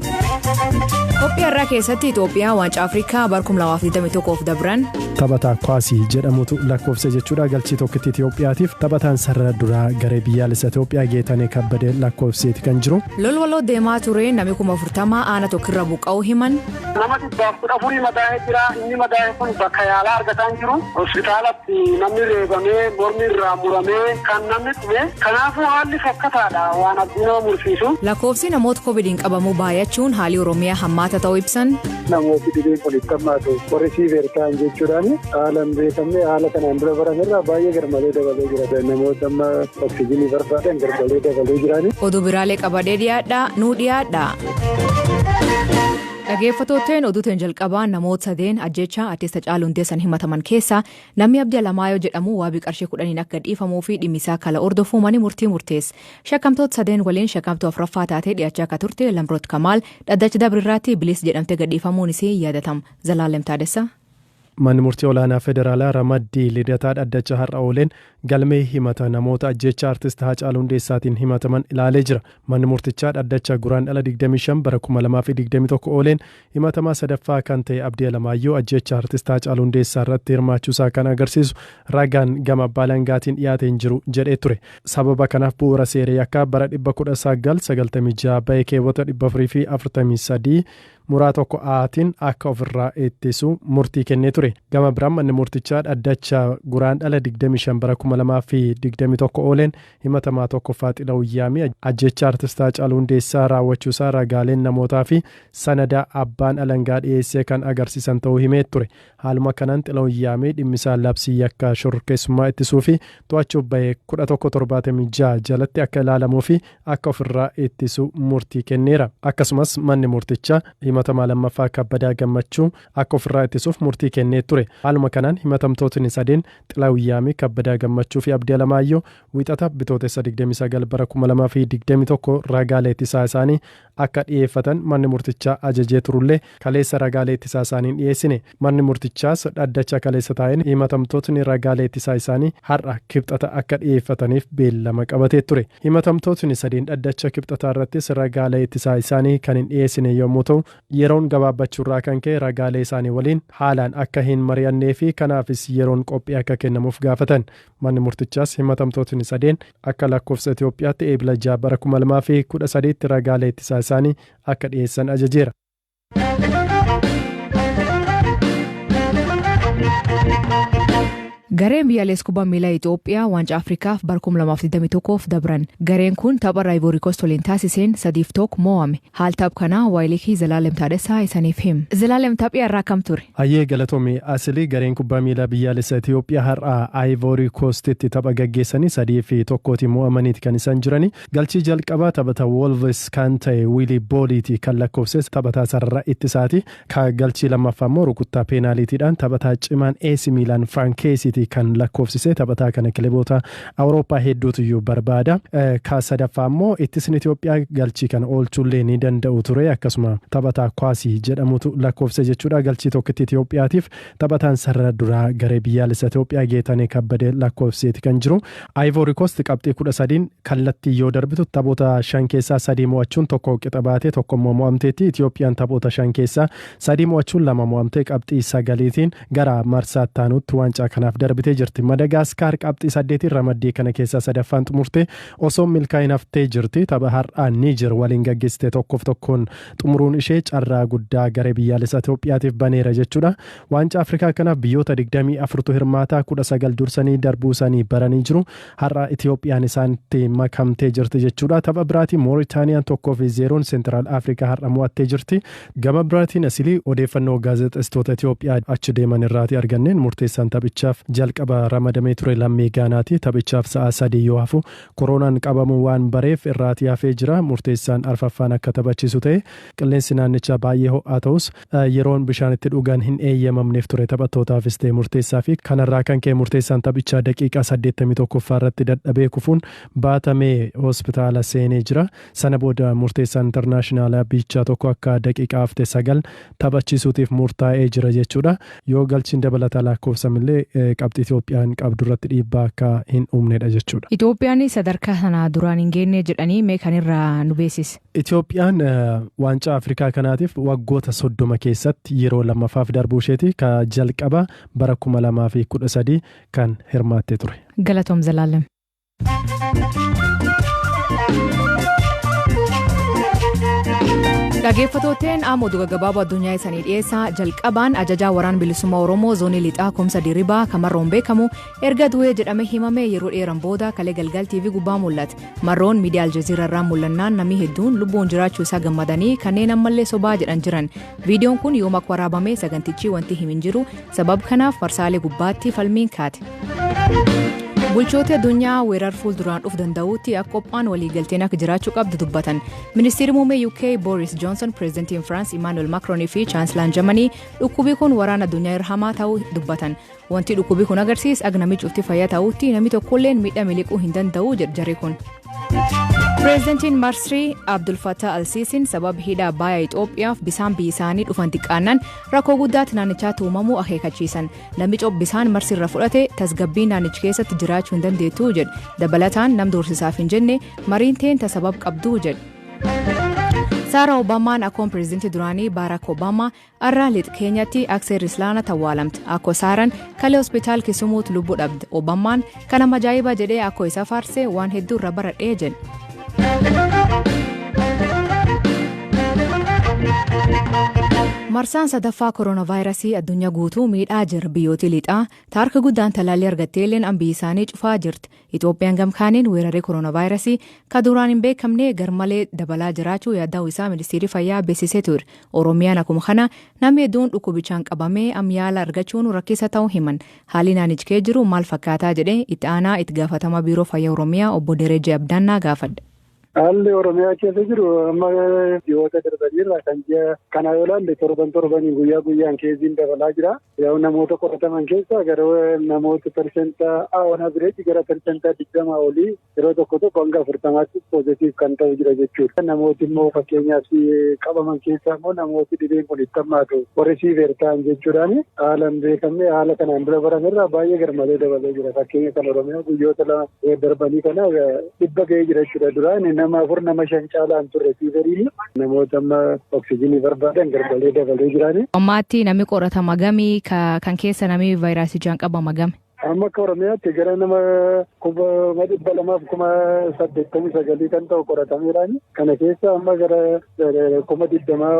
Qophii har'aa keessatti Itoophiyaa waancaa Afrikaa bara 2021f dabran Taphataa Kwaasii jedhamutu lakkoofse jechuudha galchii tokkitti Itoophiyaatiif taphataan sarara duraa garee biyyaalessa Itoophiyaa Geetanee Kabbadee lakkoofseeti kan jiru. lolwaloo deemaa ture namni kuma 40 aana tokkirra buqqa'uu himan. Namatti Waggaaf kudha afurii madaa'ee jira. Inni madaa'e kun bakka yaalaa argataa hin jiru. Hospitaalatti namni reebamee, mormi irraa muramee kan namni dhume. Kanaafuu haalli fokkataadha waan abdii nama mursiisu. Lakkoofsi namoota Covid'n qabamuu baayachuun haalii Oromiyaa hammaata ta'uu ibsan. Namooti dhibeen kun itti hammaatu warri siiver ta'an jechuudhaan haala hin beekamne haala kanaan dura barame irraa baay'ee garmalee dabalee jira. Namoota amma oksijiinii barbaadan garmalee dabalee jiraani. Oduu biraalee qabadee dhiyaadhaa nuu dhiyaadhaa. Dhageeffattootteen oduu teen jalqabaa namoota sadeen ajjeechaa artist Hacaaluu Hundeessan himataman keessaa namni Abdii Alamaayoo jedhamu waabii qarshii kudhaniin akka gadhiifamuu fi dhimmi isaa kala hordofuu mani murtii murtees. Shakkamtoota sadeen waliin shakkamtuu afraffaa taatee dhiyaachaa akka turte Lamroot Kamaal dhaddacha dabre irraatti bilis jedhamte gadhiifamuun isii yaadatam. Zalaalem Taadessa. Manni Murtii Olaanaa Federaalaa ramaddii Lidataa dhaddacha har'a ooleen galmee himata namoota ajjeechaa Artist Haacaaluu Hundeessaatiin himataman ilaalee jira. Manni murtichaa dhaddacha Guraandhala 25 bara 2021 ooleen himatamaa sadaffaa kan ta'e Abdii Alamaayyoo ajjeechaa Artist Haacaaluu Hundeessaa irratti hirmaachuusaa kan agarsiisu ragaan gama abbaa alangaatiin dhiyaate hin jiru jedhee ture. Sababa kanaaf bu'uura seera yakkaa bara 1996 ba'e keewwata 443, muraa tokko A tiin akka of irraa ittisu murtii kennee ture. Gama biraan manni murtichaa dhaddacha Guraandhala 25 bara 2021 ooleen himatamaa 1ffaa Xilahun Yaamii ajjeechaa Artist Haacaaluu Hundeessaa raawwachuusaa ragaaleen namootaa fi sanada abbaan alangaa dhiyeessee kan agarsiisan ta'uu himee ture. Haaluma kanaan Xilahun Yaamee dhimmisaa labsii yakka shororkeessummaa ittisuu fi to'achuuf bahe 1176 jalatti akka ilaalamuu fi akka ofirraa ittisu murtii kenneera. Akkasumas manni murtichaa himatamaa lammaffaa Kabbadaa Gammachuu akka ofirraa ittisuuf murtii kennee ture. Haaluma kanaan himatamtootni sadeen Xilahun Yaamee, Kabbadaa Gammachuu fi Abdii Alamaayyoo Wiixata Bitootessa 29 bara 2021 ragaalee ittisaa isaanii akka dhiyeeffatan manni murtichaa ajajee turullee kaleessa ragaalee ittisaa isaanii hin dhiyeessine. Manni murtichaas dhaddacha kaleessa taa'een himatamtootni ragaalee ittisaa isaanii har'a kibxata akka dhiyeeffataniif beellama qabatee ture. Himatamtootni sadeen dhaddacha kibxataa irrattis ragaalee ittisaa isaanii kan hin dhiyeessine yommuu ta'u, yeroon gabaabbachuurraa kan ka'e ragaalee isaanii waliin haalaan akka hin mari'annee fi kanaafis yeroon qophii akka kennamuuf gaafatan. Manni murtichaas himatamtootni sadeen akka lakkoofsa Itoophiyaatti Eebila 6 bara 2013tti ragaalee ittisaa isaanii akka dhiyeessan ajajeera. Gareen biyyaalessa kubbaa miilaa Itoophiyaa waancaa Afrikaaf bara 2021f dabran. Gareen kun tapha Raayivoorikoos waliin taasiseen 3-1 mo'ame. Haal taph kanaa waayilii kee Zalaalem Taadhasaa isaniif him. Zalaalem taphii har'aa akkam ture? Hayyee galatoomi Asili, gareen kubbaa miilaa biyyaalessa Itiyoophiyaa har'a Ayivoori Koostitti tapha gaggeessanii 3 fi 1tiin mo'amaniiti kan isaan jirani. Galchii jalqabaa taphata Woolvis kan ta'e Wiilii Booliiti kan lakkoofses taphataa sarara ittisaati. Ka galchii lammaffaa immoo rukuttaa peenaaliitiidhaan taphataa cimaan AC Miilaan Firaank Keesiiti kan lakkoofsise. Taphataa kana kileboota Awurooppaa hedduutuyyuu barbaada. Ka sadaffaa immoo ittisni Itoophiyaa galchii kana oolchuullee ni danda'u ture. Akkasuma taphataa Kwaasii jedhamutu lakkoofse jechuudha. Galchii tokkitti Itoophiyaatiif Taphataan sarara duraa garee biyyaalessa Itoophiyaa Geetanee Kabbadee lakkoofsiseeti kan jiru. Ayivoori Koost qabxii 13 kallattii yoo darbitu taphoota shan keessaa sadii mo'achuun tokko qixa baatee tokko immoo mo'amteetti. Itoophiyaan taphoota shan keessaa sadii mo'achuun lama mo'amtee qabxii sagaliitiin gara marsaa itti aanutti waancaa kanaaf darbitee jirti. Madagaaskaar qabxii saddeetiin ramaddii kana keessaa sadaffaan xumurtee osoo milkaa'in haftee jirti. Tapha har'aa Niijer waliin gaggeessite tokkoof tokkoon xumuruun ishee carraa guddaa garee biyyaalessaa Itoophiyaatiif baneera jechuudha. Waancaa Afrikaa kanaaf biyyoota 24tu hirmaataa 19 dursanii darbuu isaanii baranii jiru. Har'a Itoophiyaan isaanitti makamtee jirti jechuudha. Tapha biraatiin Mooritaaniyaan 1 fi 0n Seentiraal Afrikaa har'a mo'attee jirti. Gama biraatiin asilii odeeffannoo gaazexessitoota Itoophiyaa achi deeman irraati arganneen murteessaan taphichaaf jalqaba ramadamee ture lammii Gaanaati. Taphichaaf sa'a sadii yoo hafu Koroonaan qabamuu waan bareef irraatii hafee jira. Murteessaan arfaffaan akka taphachiisu ta'e. Qilleensi naannichaa baay'ee ho'aa ta'us yeroon bishaan itti dhugan hin eeyyamamneef ture taphattootaafis ta'e murteessaafi. Kanarraa kan ka'e murteessaan taphichaa daqiiqaa saddeettamii tokkoffaa irratti dadhabee kufuun baatamee hospitaala seenee jira. Sana booda murteessaa internaashinaalaa biychaa tokko akka daqiiqaa hafte sagal taphachiisuutiif murtaa'ee jira jechuudha. Yoo galchiin dabalataa laakkoofsamillee qabxii Itoophiyaan qabdu irratti dhiibbaa akka hin uumnedha jechuudha. Itoophiyaan sadarkaa sana duraan hin geenne jedhanii mee kan irraa nu beeksisi. Itoophiyaan waancaa Afrikaa kanaatiif waggoota soddoma keessatti yeroo lammaffaaf darbuu isheeti. Ka jalqaba bara kuma lamaa fi kudha sadii kan hirmaattee ture. Galatoom Zalaalem. Dhageeffatooteen amma oduu gaggabaaboo addunyaa isanii dhiyeessaa jalqabaan ajajaa waraan bilisummaa Oromoo zoonii lixaa Kumsa Diribaa kamarroon beekamu erga du'ee jedhame himame yeroo dheeran booda kalee galgal TV gubbaa mul'ate. Marroon miidiyaa Aljazeera irraa mul'annaan namni hedduun lubbuun jiraachuu isaa gammadanii kanneen ammallee sobaa jedhan jiran. Viidiyoon kun yoom akka waraabame sagantichi wanti himin jiru Sabab kanaaf marsaalee gubbaatti falmiin kaate. Bulchooti addunyaa weerar fuulduraan dhuf danda'uutti akka qophaan waliigalteen akka jiraachuu qabdu dubbatan. Ministeerri muummee UK Boris Johnson, Pireezidantiin Firaans Imaanuel Makroon fi Chaansilaan Jamanii dhukkubii kun waraana addunyaa irra hamaa ta'uu dubbatan. Wanti dhukkubii kun agarsiis agnamichuutti fayyaa ta'uutti namni tokkolleen miidhaa miliquu hin danda'u jedhe jarri kun. Pireezidantiin Masrii Abdul Fattah Al-Siisiin sababa hidha baaya Itoophiyaaf bisaan biyya isaanii dhufan xiqqaannaan rakkoo guddaatti naannichaatti uumamuu akeekachiisan. Namni cop bisaan Masrii irra fudhate tasgabbii naannichi keessatti jiraachuu hin dandeettu jedhe. Dabalataan nam doorsisaaf hin jenne mariin teenta sabab qabdu jedhe. Saara Obaamaan akkoon pireezidantii duraanii Baaraak Obaamaa Arraa lix keenyatti aksee rislaana tawwaalamte akko saaran kalee hospitaal kisumuut lubbu dhabde obammaan kana majaa'iba jedhee akko isa faarse waan hedduu irra baradhee jedhe. Marsaan sadaffaa koronaavaayirasii addunyaa guutuu miidhaa jira biyyooti lixaa taarka guddaan talaallii argatteelleen ambii isaanii cufaa jirti Itoophiyaan gam kaaniin weerarri koronaavaayirasii ka duraan hin beekamne garmalee dabalaa jiraachuu yaadda'uu isaa Ministeerri Fayyaa beeksisee ture. Oromiyaan akkuma kana namni hedduun dhukkubichaan qabamee am yaala argachuun rakkisa ta'uu himan. Haalli naannichi kee jiru maal fakkaataa jedhee itti aanaa itti gaafatamaa Biiroo Fayyaa Oromiyaa obbo Derejee Abdaannaa gaafadhe. Haalli Oromiyaa keessa jiru amma ji'oota darbaniirra kan ji'a kanaa yoo ilaalle torban torbaniin guyyaa guyyaan keessiin dabalaa jira. Yoo namoota qorataman keessaa gara namoota persenta on average gara persenta digdama olii yeroo tokko tokko hanga afurtamaatti poozitiif kan ta'u jira jechuudha. Namooti immoo fakkeenyaaf qabaman keessaa immoo namooti dhibeen kun itti hammaatu warri siiveer ta'an jechuudhaan haala hin beekamne haala kanaan dura baramerraa baay'ee garmalee dabalee jira. Fakkeenya kan Oromiyaa guyyoota lama darbanii kana dhibba ga'ee jira jechuudha. Duraan nama afur nama shan caalaa hin turre fiiveriin namoota amma oksijiinii barbaadan garmalee dabalee jiraani. Ammaatti namni qoratama gami kan keessa namni vaayiraasichaan qabama gami. Amma akka Oromiyaatti gara nama kuma dhibba lamaaf kuma saddeettamii sagalii kan ta'u qoratameeraani. Kana keessa amma gara kuma digdamaa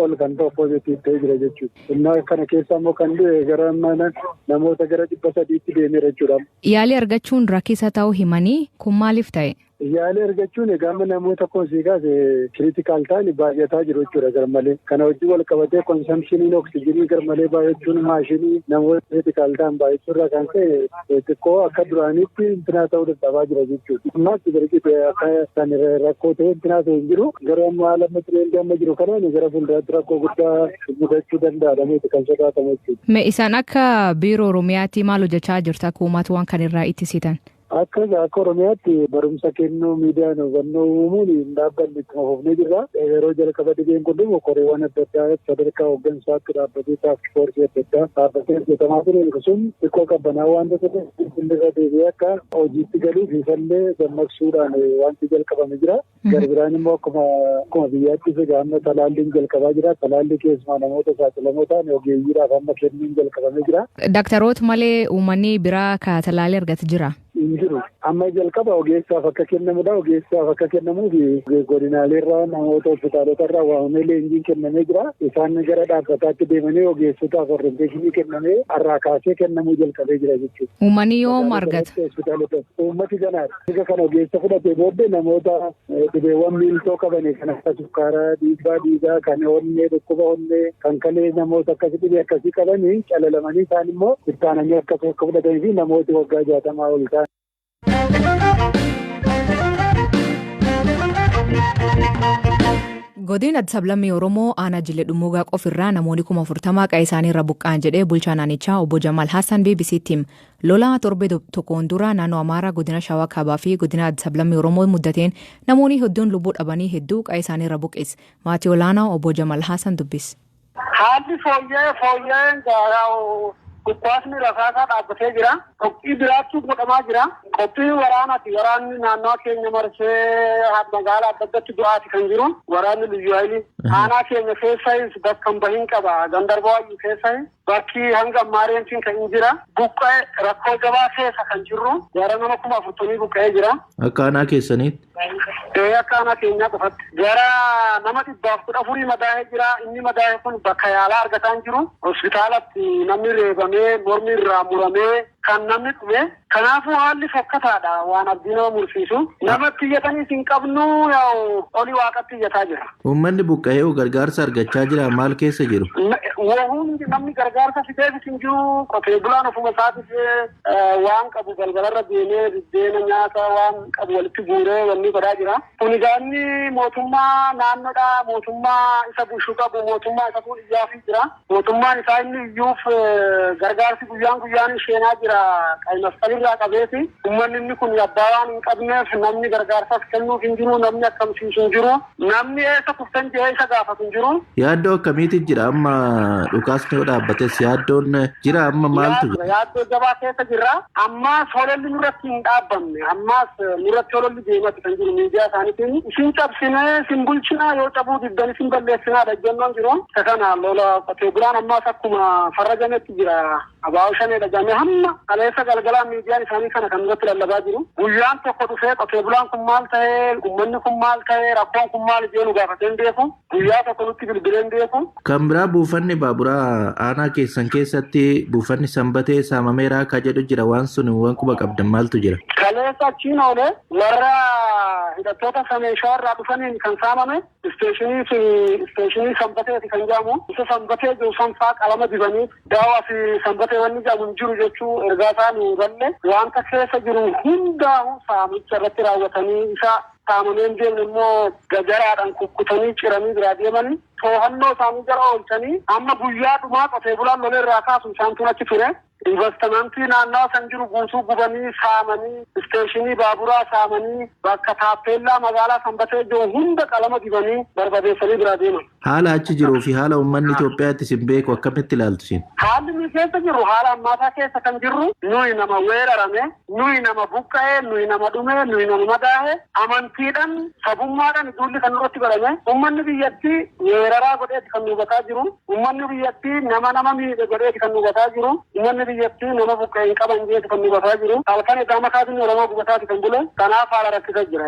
ol kan ta'u poozitiiv ta'ee jira jechuudha. Innaa kana keessa ammoo kan du'e gara mana namoota gara dhibba sadiitti deemeera jechuudha. Yaalii argachuun rakisa ta'uu himanii, kun maaliif ta'e? Yaalii argachuun egaa amma namoota akkuma sii kaase critical ta'an baay'ataa jiru jechuudha garmalee. Kana wajjin wal qabatee consumptioniin oksijinii garmalee baay'achuun maashinii namoota critical ta'an baay'achuu irraa kan ka'e xiqqoo akka duraaniitti intinaa ta'uu dadhabaa jira jechuudha. Ammaatti barqite akka kan rakkoo ta'e intinaa ta'e hin jiru. Garuu amma haala amma tireendi amma jiru kanaan gara fuulduraatti rakkoo guddaa mudachuu danda'a jedhameeti kan sodaatamu jechuudha. Me isaan akka biiroo Oromiyaatti maal hojjechaa jirta akka uumaata waan kan irraa ittisitan? Akka akka Oromiyaatti barumsa kennuu miidiyaan hubannoo uumuun hin dhaabbanne ittuma fufnee jirra. Yeroo jalqaba dhibeen kun dhufu koreewwan adda addaa sadarkaa hooggansaatti dhaabbatee taask foorsii adda addaa dhaabbatee hojjetamaa ture sun xiqqoo qabbanaa waan ta'eef irra deebi'ee akka hojiitti galuuf ifallee dammaqsuudhaan wanti jalqabame jira. Gara biraan immoo akkuma akkuma biyyaattis egaa amma talaalliin jalqabaa jira. Talaallii keessumaa namoota saaxilamoo ta'an ogeeyyiidhaaf amma kennuun jalqabamee jira. Daktaroota malee uummanni biraa ka talaallii argate jira. Hin jiru. Amma jalqaba ogeessaaf akka kennamudha. Ogeessaaf akka kennamuuf godinaaleerraa namoota hospitaalotarraa waamamee leenjiin kennamee jira. Isaan gara dhaabbataatti deemanii ogeessotaaf orienteeshinii kennamee har'aa kaasee kennamuu jalqabee jira jechuudha. Uummanni yoom argata? Uummati ganaadha. Erga kan ogeessa fudhatee booddee namoota dhibeewwan miiltoo qabanii kan akka sukkaaraa, dhiibbaa dhiigaa, kan onnee, dhukkuba onnee, kan kalee namoota akkasi dhibee akkasii qabanii calalamanii isaan immoo ittaananii akkas akka fudhatanii fi namooti waggaa jaatamaa ol ta'an. Godin Addis Ablammii Oromoo aanaa Jillee Dhummuugaa qofirraa namoonni kuma afurtamaa qa'ee isaanii irra buqqa'an jedhee bulchaa naannichaa obbo Jamaal Haasaan BBC'tti hima. Lolaa torbee do- tokkoon dura naannoo Amaaraa godina Shawaa Kaabaa fi godina Addis Ablammii Oromoo muddateen namoonni hedduun lubbuu dhabanii hedduu qa'ee isaanii irra buqqis. Maatii olaanaa obbo Jamal Haasan dubbis. Haalli fooyya'ee fooyya'een gaaraa'u dhukkaasni rasaasaa dhaabbatee jira. Qophii biraattuu godhamaa jira. Qophii waraanaati. Waraanni naannoo keenya marsee magaalaa adda addatti du'aati kan jiru. Waraanni liyyu hayilii. Aanaa keenya keessayis bakka hin bahin qaba. Gandarbaa wayyu keessa Bakki hanga ammaa reentiin kan hin jira buqqa'e rakkoo jabaa keessa kan jirru gara nama kuma afurtamii buqqa'ee jira. Akka aanaa keessaniitti? Ee akka aanaa keenyaa qofatti. Gara nama dhibbaaf kudha afurii madaa'ee jira. Inni madaa'e kun bakka yaalaa argataa hin jiru. Hospitaalatti namni reebamee, mormi irraa muramee kan namni dhume Kanaafuu haalli fokkataadha waan abdii nama mursiisu. Namatti iyyataniis hin qabnu yaa'u oli waaqatti iyyataa jirra. Uummanni buqqa'ee hoo gargaarsa argachaa jiraa maal keessa jiru? Wohuun namni gargaarsa fideefis hin jiru qotee bulaan ofuma isaatiif waan qabu balbalarra deemee biddeena nyaata waan qabu walitti guuree wanni godhaa jira. Kun egaa inni mootummaa naannoodha mootummaa isa bulchu qabu mootummaa isatu iyyaafii jira. Mootummaan isaa inni iyyuuf gargaarsi guyyaan guyyaan sheenaa jira qaymasqal irraa qabeeti. Ummanni inni kun abbaa waan hin qabneef namni gargaarsas kennuuf hin jiru, namni akkamsiisu hin jiru, namni eessa kuftan jedhee isa gaafatu hin jiru. Yaaddoo akkamiitu jira amma dhukaasni yoo dhaabbates yaaddoon jira amma maaltu jira? Yaaddoo jabaa keessa jirra. Ammaas hololli nurratti hin dhaabbanne. Ammaas nurratti hololli deematti kan jiru miidiyaa isaaniitiin isin cabsinee isin bulchinaa yoo cabuu diddan isin balleessinaadha ejjennoon jiru. Isa kana lola qotee bulaan ammaas akkuma farrajametti jira. Abaa'oo shanee dhaga'amee hamma kaleessa galgalaa miidiyaan isaanii kana kan irratti lallabaa jiru. Guyyaan tokko dhufee qotee bulaan kun maal ta'ee, ummanni kun maal ta'ee, rakkoon kun maal ijee nu gaafatee hin beeku. Guyyaa tokko nutti bilbilee hin beeku. Kan biraa buufanni baaburaa aanaa keessan keessatti buufanni sanbatee saamameeraa ka jedhu jira waan sun waan quba qabdan maaltu jira? Kaleessa achiin oole warra hidhattoota sameen shawarraa dhufaniin kan saamame isteeshinii sun isteeshinii sanbateeti kan jedhamu isa sanbatee jiru sanfaa qalama dibanii daawaa fi sanbatee wanni jedhamu hin jiru jechuu ergaa isaa nu galle wanta keessa jiru hundaa'u saamicha irratti raawwatanii isa Qaamoleen deemne immoo gajaraadhaan kukkutanii ciranii biraa deeman. Toohannoo isaanii jala oolchanii amma guyyaa dhumaa qotee bulaan lolee irraa kaasu isaantu achi ture. Invastimantii naannawa san jiru guutuu gubanii, saamanii, isteeshinii baaburaa saamanii, bakka taappeellaa magaalaa Sanbatee jiru hunda qalama dibanii barbadeessanii biraa deeman. Haala achi jiruu fi haala uummanni Itoophiyaa itti isin beeku akkamitti ilaaltu isin? Haalli nuyi keessa jirru haala ammaataa keessa kan jirru nuyi nama weerarame, nuyi nama buqqa'e, nuyi nama dhume, nuyi nama madaahe, amantiidhan, sabummaadhan duulli kan nurratti godhame, uummanni biyyatti weeraraa godheeti kan nu hubataa jiru, uummanni biyyatti nama nama miidhe godheeti kan nu hubataa jiru, uummanni biyyatti nama buqqa'e hin qaban jeeti kan nu hubataa jiru. Halkan edaa makaa biyyi Oromoo gubataati kan bule. Kanaaf haala rakkisa jira.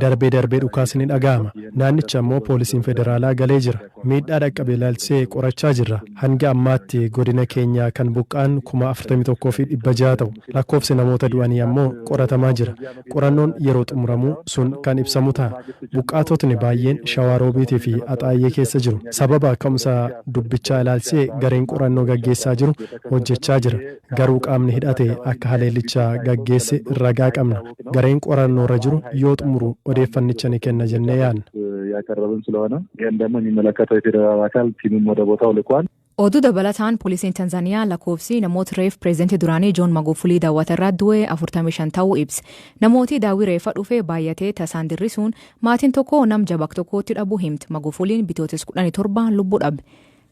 Darbee darbee dhukaasni ni dhaga'ama. Naannicha ammoo poolisiin federaalaa galee jira. Miidhaa dhaqqabe ilaalchisee qorachaa jirra. Hanga ammaatti godina keenyaa kan buqqa'an 41,600 ta'u. Lakkoofsi namoota du'anii ammoo qoratamaa jira. Qorannoon yeroo xumuramu sun kan ibsamu ta'a. Buqqaatotni baayyeen Shawaa Roobiit fi Axaayyee keessa jiru. Sababa ka'umsa dubbichaa ilaalchisee gareen qorannoo gaggeessaa jiru hojjechaa jira. Garuu qaamni hidhate akka haleellicha gaggeesse ragaa qabna. Gareen qorannoorra jiru yoo xumuru odeeffannicha ni kenna jennee yaadna. Oduu dabalataan Poolisiin Tanzaniyaa lakkoofsi namoota reef Pireezidantii duraanii Joon Magufulii daawwata irraa du'e 45 ta'uu ibse. Namooti daawwii reeffa dhufe baayyatee tasaan dirrisuun maatiin tokko nam jabak tokkootti dhabu himte. Magufuliin Bitootes 17 lubbu dhabe.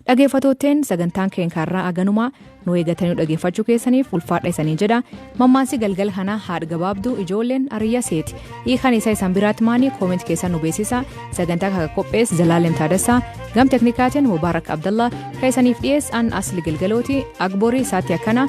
Dhageeffattootteen sagantaan keen kaarraa aganumaa nu eegatanii dhageeffachuu keessaniif ulfaadha isanii jedha mammaansi galgala kanaa haadh gabaabdu ijoolleen ariyya seeti hiikan isa isan biraatti maanii koomenti keessan nu beeksisa sagantaa kaka qophees zalaalem taadassaa gam teknikaatiin mubaarak abdallaa ka isaniif dhiyees an asli galgalooti agborii isaatti akkana